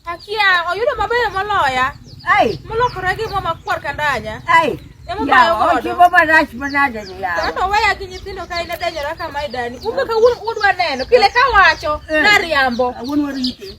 Akia oyudo mabeyo moloya. Ai. Molokore gi mama kwar kandanya. Ai. Ochiwo marach manade ni yawa. Kata weya gi nyithindo ka in edenyora kama idani. Kumbe ka wuon udwa neno. Pile ka wacho nariambo. Wuon warite.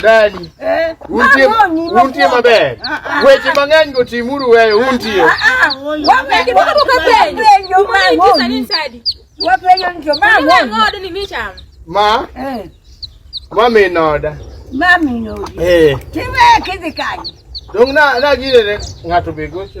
Dani. Eh. Untie untie maber. Ah, ah. Weche mang'eny go timuru wewe untie. Ah, Wapenjo kama ukapenjo. Wapenjo ndio mama. Ni mimi chama. Ma? Eh. Mama inoda. Mama inoda. Eh. Tiwe kizikani. Dong na na gire ngato begocho.